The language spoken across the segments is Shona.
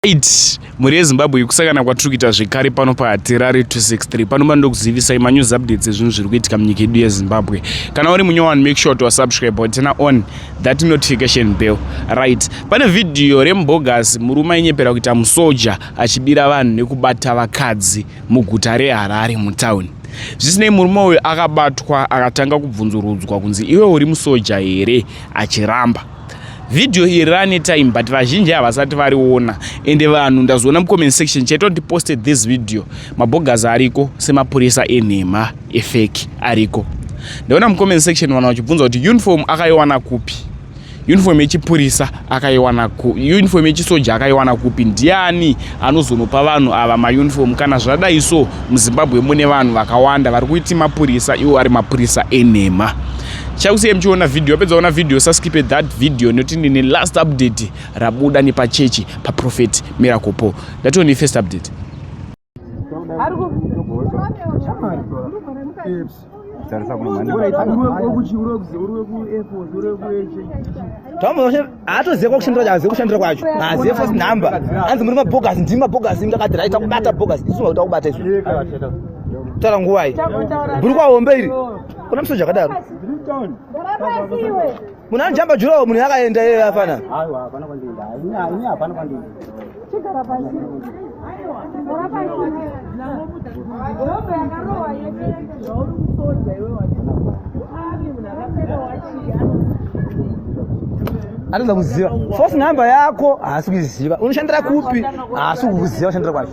Right. Mhuri yeZimbabwe yekusangana kwatiri kuita zvekare pano paHatirari 263 pano panoda kuzivisai manews updates ezvinhu zviri kuitika munyika yedu yeZimbabwe. Kana uri munyowani make sure to subscribe or turn on that notification bell. Right. Pane video rembogas murume ainyepera kuita musoja achibira vanhu nekubata vakadzi muguta reHarare mutown. Zvisinei murume uyu akabatwa akatanga kubvunzurudzwa kunzi iwe uri musoja here achiramba. video iyi rane time but vazhinji havasati variona ende vanhu ndazoona mucomment section chaito ndiposted this video mabogas ariko semapurisa enhema efeki ariko ndaona mucomment section vanhu vachibvunza kuti uniform akaiwana kupi uniform yechipurisa akaiwana uniform yechisoja akaiwana kupi ndiani anozonopa vanhu ava mauniform kana zvadai so muzimbabwe mune vanhu vakawanda vari kuiti mapurisa iwo ari mapurisa enhema chakusiyai muchiona video apedza kuona video saskipe that video nekuti ndine last update rabuda nepachechi paprofet miracle paul ndatione first update haatoziva kwakushandira kwacho azive kushandira kwacho azive first number anzi muri mabhogasi ndimi mabhogasi ndakati rai takubata bhogasi isu makuti akubata isu tara nguvai bhurukwa hombe iri kuna musoja akadaro munhu anojamba jurawo munhu yakaenda iye afana anoda kuziva fos number yako haasi kuiziva unoshandira kupi haasi kukuziva ushandira kwacho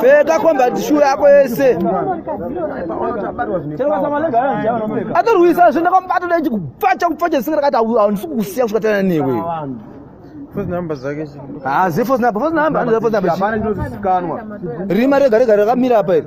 pfeka combat shoe yako yese atorwisa zve ndakamubato dai chikupfacha kupfacha zvisinga rakati handisi kukusiya kusvika tana newe hazi fos number fos number rima rega rega rakamira apa iri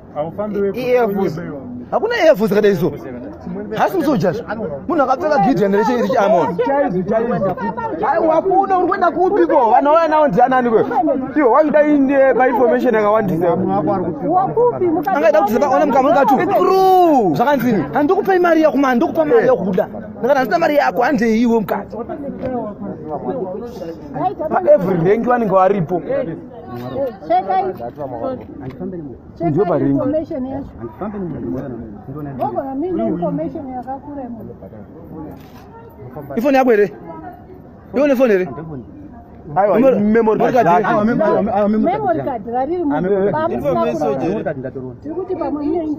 hakuna earful dzakadai so hasi musojazi munhu akapfeka gideon rechiamon wakuna uri kuenda kupi ko vanhu vauya nawo ndianani ko iwo wakuda inde painformation yakawandisa angaita kuti ona mukamunikatu tru zvakanzini handikupai mari yakuma handikupa mari yakuda ndakati handina mari yako handei iwe mukadzi paevery rank vanenge varipo ifoni yako here ione foni here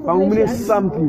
pamwe mune something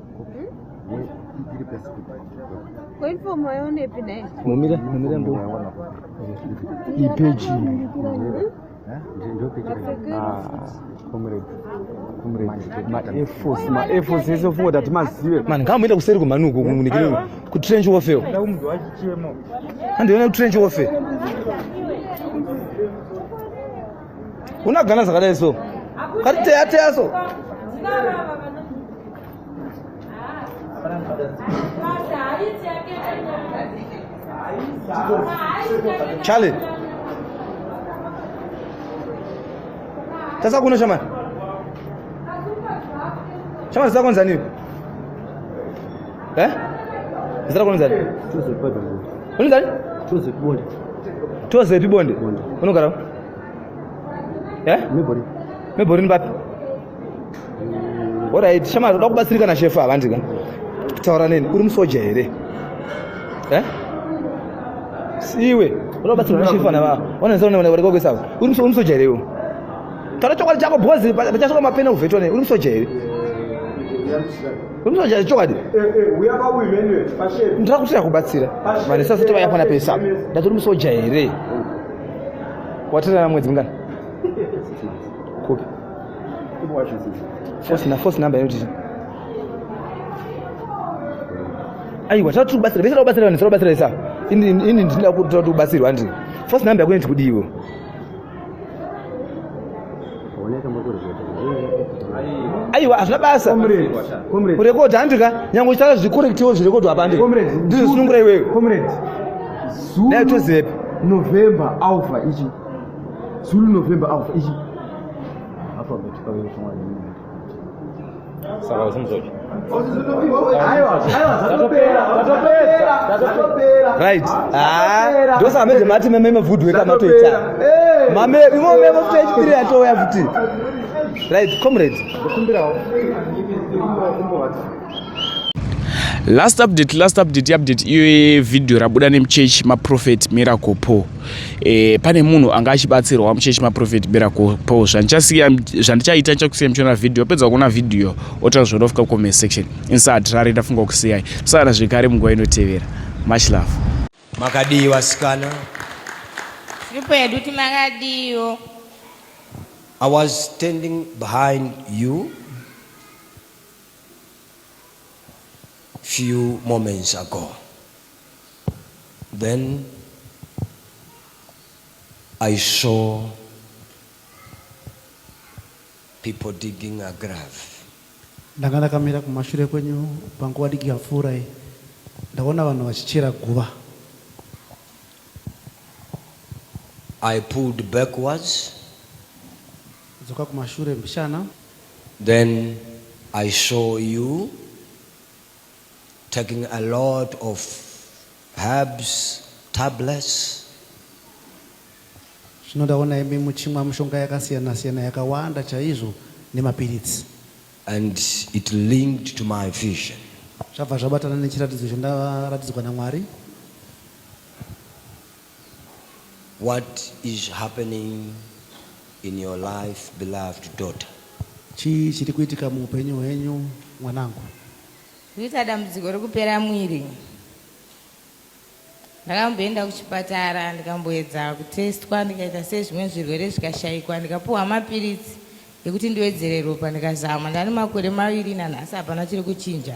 mumire mumire mbo ipeji maefos maefos ese ofunga tati mazive mani ngaamboenda kuseri kwemhani uko kunikire kutrench warfare andiona kutrench warfare unagana zvakadai so kati teya teya so charlie tasa kuno shamani shamani zita konzani iwe eh zita konzani unonzani tozepibonde tozepibonde unogara eh? meborini papi orit shama toda kubatsirika nashefu havandi ka taura neni uri musoja here eh? siwe oda kubatsirika nashefu ana vaa onaesaonearekokesava uri musoja here iwo taura chokwadi chako bhozi pachasvika mapena uvhetwa nei uri musoja here unotoja chokwadi ndakutira kubatsira vanhu sasati vayapana pesa ndati uri musoja here watorana mwedzi mingani kupi fosina fosi number inoti aiwa tati ubatsira vese taubatsira vanhu taubatsira vese ini ndinoda kuti ubatsirwa ndi fosi number yako inoti kudiiwo aiwa hazvina basa kurekodha handi ka nyange uchitaura zvikorektiwo zvirekodhwa hapa handi ndizvo zvinongura iwewe dai tozivepi november alpha ichi zulu november alpha ichi saka usimuzoki right ah, ndosaka manje mati meme mevhudhu weka matoita eh. mame imo meme futi echipiri yatouya futi right comrade last update last update update iyo video rabuda nemuchechi maprofet miracle paul e, pane munhu anga achibatsirwa muchechi maprofet bera kupo zvandichasiya zvandichaita ndichakusiya muchiona vhidhiyo pedza kuona vhidhiyo otira zvinofika comment section insati rari ndafunga kusiyai tisana zvekare munguva inotevera much love makadii vasikana sipo yedu ti makadiiwo i was standing behind you few moments ago Then I saw people digging a grave. Ndanga ndakamira kumashure kwenyu panguva diki yapfuura iyi ndaona vanhu vachichera guva. I pulled backwards. Dzoka kumashure mbichana. Then I saw you. taking a lot of herbs tablets zvino ndaona imi muchimwa mushonga yakasiyana siyana yakawanda chaizvo nemapiritsi and it linked to my vision zvabva zvabatana nechiratidzo chandaratidzwa namwari What is happening in your life beloved daughter? Chii chiri kuitika muupenyu hwenyu mwanangu? Kuita dambudziko rekupera mwiri. Ndakamboenda kuchipatara ndikamboedza kutestwa ndikaita sezvimwe zvirwere zvikashaikwa ndikapuwa mapiritsi ekuti ndiwedzere ropa ndikazama ndane makore maviri nanhasi hapana chiri kuchinja.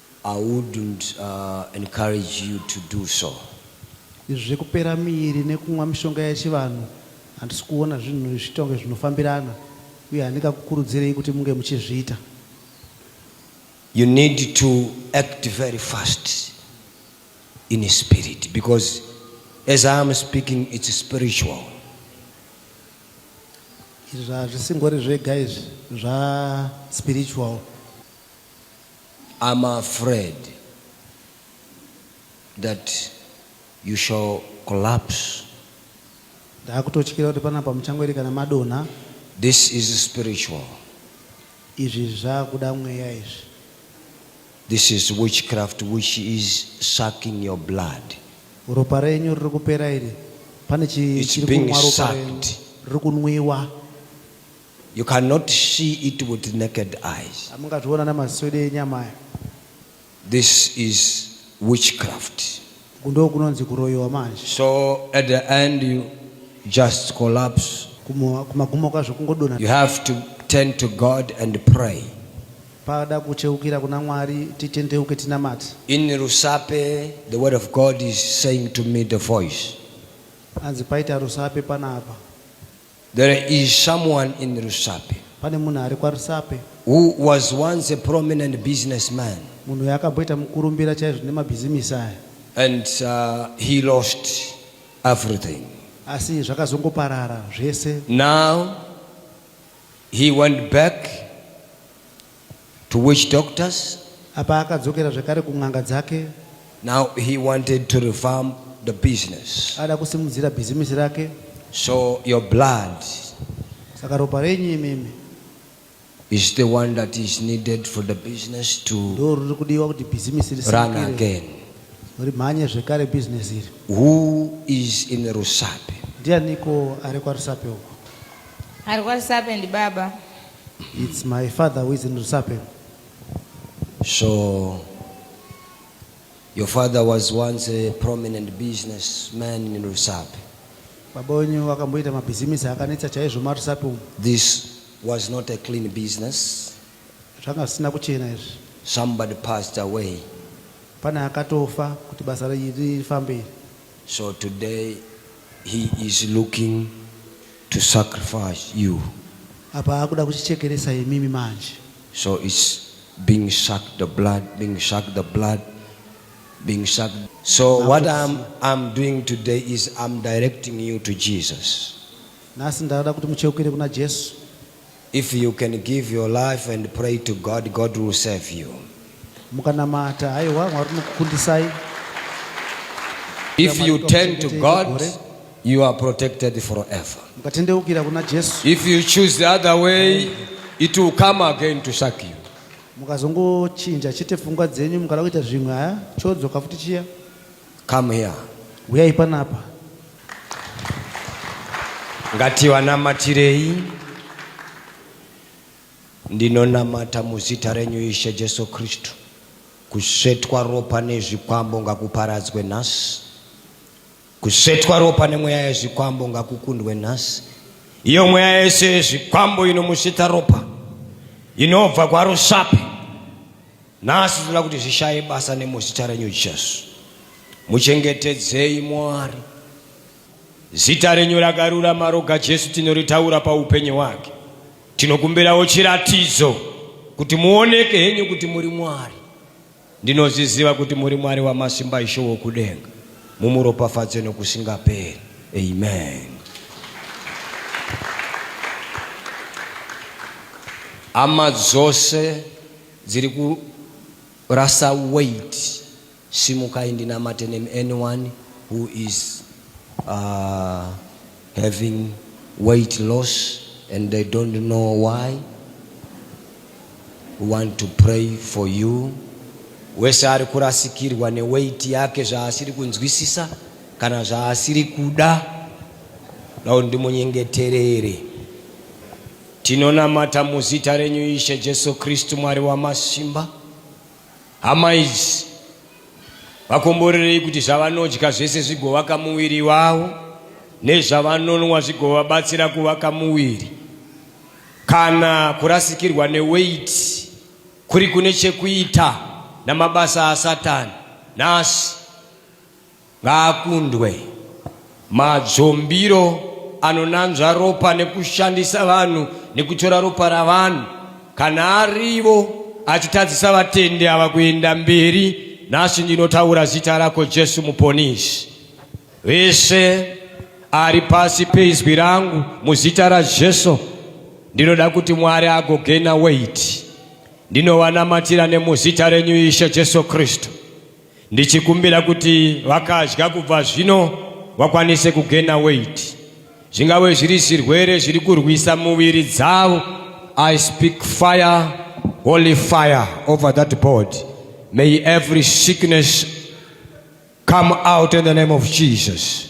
I wouldn't encourage you to do so. Izvi zvekupera miiri nekumwa mishonga yechivanhu handisi kuona zvinhu izvi zvitonge zvinofambirana uye handingakukurudzirei kuti munge muchizviita. You need to act very fast in spirit because as I am speaking it's spiritual. Izvi hazvisingori zvega izvi zva spiritual. I'm afraid that you shall collapse. Ndakutotyira kuti panapa muchangwerekana madonha. This is spiritual. Izvi zvakuda mweya izvi. This is witchcraft which is sucking your blood. Ropa renyu riri kupera iri. Pane chiri kunwa ropa renyu. Riri kunwiwa. You cannot see it with naked eyes. Hamungazviona namaswede enyama aya. This is witchcraft. Kundo kunonzi kuroyiwa manje. So at the end you just collapse. Kumagumo kwazvo kungodona. You have to turn to God and pray. Pada kucheukira kuna Mwari titendeuke tinamate. In Rusape the word of God is saying to me the voice. Anzi paita Rusape panapa. There is someone in Rusape. Pane munhu ari kwaRusape. Who was once a prominent businessman. Munhu uyu akamboita mukurumbira chaizvo nemabhizimisi aya. And uh, he lost everything. Asi zvakazongoparara zvese. Now he went back to witch doctors. Apa akadzokera zvekare kun'anga dzake. Now he wanted to revamp the business. Ada kusimudzira bhizimisi rake. So your blood. Saka ropa renyu imimi. Is the one that is needed for the business to run again. Who is in Rusape? Ndianiko ari kwaRusape uko? Ari kwaRusape ndi baba. It's my father who is in Rusape. So, your father was once a prominent businessman in Rusape. Baba wenyu wakamboita mabhizimisi akanetsa chaizvo maRusape umu. This was not a clean business. Zvanga zvisina kuchena izvi. Somebody passed away. Pane akatofa kuti basa rifambe. So today he is looking to sacrifice you. Apa akuda kutichekeresa imimi manje. So it's being sucked the blood, being sucked the blood, being sucked. So Now what I'm, I'm doing today is I'm directing you to Jesus. Nhasi ndada kuti mucheukire kuna Jesu. If you can give your life and pray to God, God will save you. Mukanamata, haiwa Mwari unokukundisai. If you turn to God, you are protected forever. Mukatendeukira kuna Jesu. If you choose the other way, it will come again to suck you. Mukazongochinja chete pfungwa dzenyu mukada kuita zvimwe haya chodzoka futi chiya. Come here. Huyai panapa. Ngativanamatirei. Ndinonamata muzita renyu Ishe Jesu Kristu. Kusvetwa ropa nezvikwambo ngakuparadzwe nhasi. Kusvetwa ropa nemweya yezvikwambo ngakukundwe nhasi. Iyo mweya yese yezvikwambo inomusvita ropa inobva kwaRusape Nhasi tinoda kuti zvishaye basa nemuzita renyu Jesu. Muchengetedzei Mwari. Zita renyu rakarurama roga Jesu tinoritaura paupenyu hwake. Tinokumbirawo chiratidzo kuti muoneke henyu kuti muri Mwari. Ndinozviziva kuti muri Mwari wamasimba ishe wokudenga. Mumuropafadze nokusingaperi. Amen. Ama dzose Dziri kurasa weight simukai ndinamate nemi anyone who is uh, having weight loss and they don't know why we want to pray for you wese ari kurasikirwa neweight yake zvaasiri kunzwisisa kana zvaasiri kuda nau ndimunyengeterere Tinonamata muzita renyu Ishe Jesu Kristu Mwari wamasimba. Hama idzi vakomborerei kuti zvavanodya zvese zvigovaka muviri wavo nezvavanonwa zvigovabatsira kuvaka muviri. Kana kurasikirwa neweiti kuri kune chekuita namabasa aSatani nhasi Ngaakundwe. Madzombiro anonanzva ropa nekushandisa vanhu nekutora ropa ravanhu kana arivo achitadzisa vatendi ava kuenda mberi nhasi ndinotaura zita rako jesu muponisi vese ari pasi peizwi rangu muzita rajesu ndinoda kuti mwari agogena weti ndinowanamatira nemuzita renyu ishe jesu kristu Ndichikumbira kuti vakadya kubva zvino vakwanise kugena weight. Zvingave zviri zvirwere zviri kurwisa muviri dzavo. I speak fire, holy fire over that body. May every sickness come out in the name of Jesus.